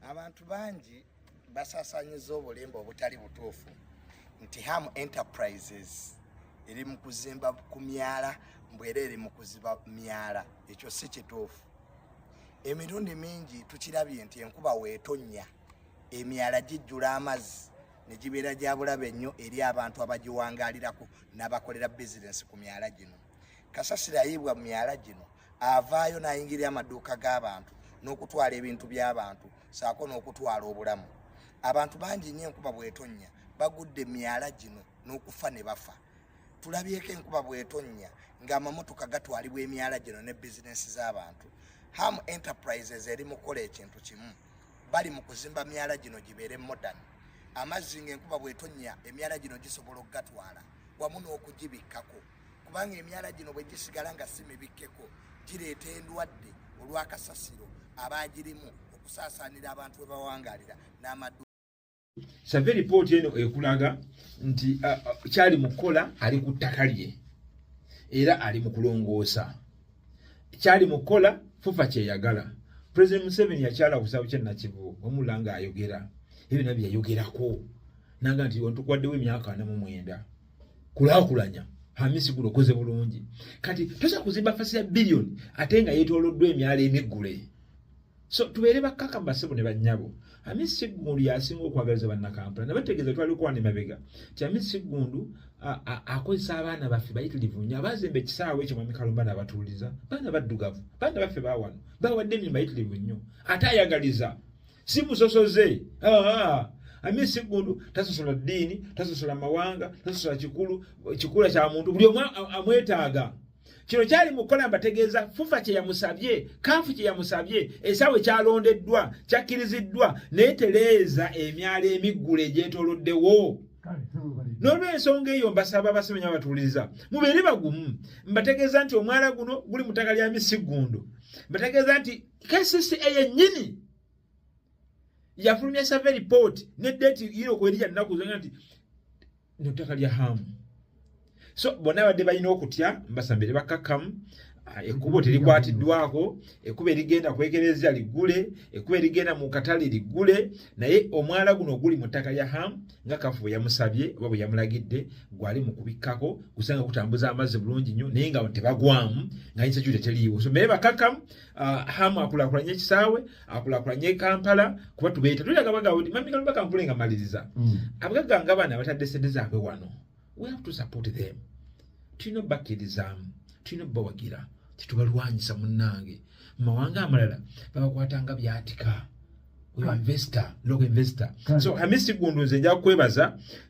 abantu bangi basasanyiza obulimba obutali butuufu nti ham enterprises eri mu kuzimba ku myala mbwera eri mu kuziba myala ekyo si kituufu emirundi mingi tukirabye nti enkuba weetonnya emyala gijjula amazzi ne gibeera gya bulabe nnyo eri abantu abagiwangaalirako n'abakolera bizinensi ku myala gino kasasiro ayiibwa mu myala gino avaayo n'ayingirira amaduuka g'abantu n'okutwala ebintu by'abantu saako n'okutwala obulamu abantu bangi nnyo enkuba bwetonnya bagudde myala gino n'okufa ne bafa tulabyeko enkuba bwetonnya ng'amamotoka gatwalibwa emyala gino ne bizinensi z'abantu ham enterprises eri mu kukola ekintu kimu bali mu kuzimba myala gino gibeere modern amazzi ng'enkuba bwetonnya emyala gino gisobola okugatwala wamu n'okugibikkako kubanga emyala gino bwe gisigala nga si mibikkeko gireeta endwadde olw'akasasiro abaagirimu okusaasaanira abantu we bawangalira n'amadu save lipooti eno ekulaga nti kyali mu kukola ali ku ttaka lye era ali mu kulongoosa kyali mu kukola fufa kyeyagala president museveni yakyala ku kisabu kyenakivu wemula nga ayogera ebyo nabyo yayogerako nanga nti ontukwaddewo emyaka ana mu mwenda kulakulanya hamisi guno koze bulungi kati tosa kuzimba fasi ya billion ate nga yetoloddwa emyalo emiggule so tubeere bakkaka mbasebo ne bannyabo hamisi siggundu yasinga okwagaliza bannakampala nabategeeza twali okwana emabega ti hamisi siggundu akozesa abaana baffe bayitirivu nnyo abazimba ekisaawe ekyo mwami kalumba nabatuuliza baana baddugavu baana baffe bawano bawadde emirimu bayitirivu nnyo ate ayagaliza si musosoze ami siggundu tasosola ddiini tasosola mawanga tasosola kikulu kikula kya muntu buli omu amwetaaga kino kyali mukola mbategeeza fufa kye yamusabye kaafu kye yamusabye esaawe kyalondeddwa kyakkiriziddwa naye tereeza emyalo emiggule egyetoloddewo n'olwensonga eyo mbasaba abasomenya abatuuliriza mubeere bagumu mbategeeza nti omwala guno guli mu ttaka lya misiggundu mbategeeza nti kcca yennyini yafulumya save report ne date yino kwerija nnaku zona nti nettaka lya hamu so bonna abadde balina okutya mbasambire bakkakkamu Ah, ekkubo terikwatiddwako ekkubo erigenda kwekerezza liggule ekkubo erigenda mu katale liggule naye omwala guno oguli mu ttaka lya ham nga kafu bwe yamusabye oba bwe yamulagidde gwali mu kubikkako gusanga gutambuza amazzi bulungi nnyo naye nga tebagwamu nga yinsa kyuta teriiwo so meye bakakamu Uh, hamu akulakulanye ekisaawe akulakulanye kampala kuba tubeeta tulaga bagabo nti mami kalumba kankule nga maliriza mm. abagagga nga bana batadde sente zaabwe wano we have to support them tulina obakirizaamu tulina obawagira tetubalwanyisa munnange mu mawanga amalala babakwata nga byatika investor local investor so hamisi gundu nze nja kwebaza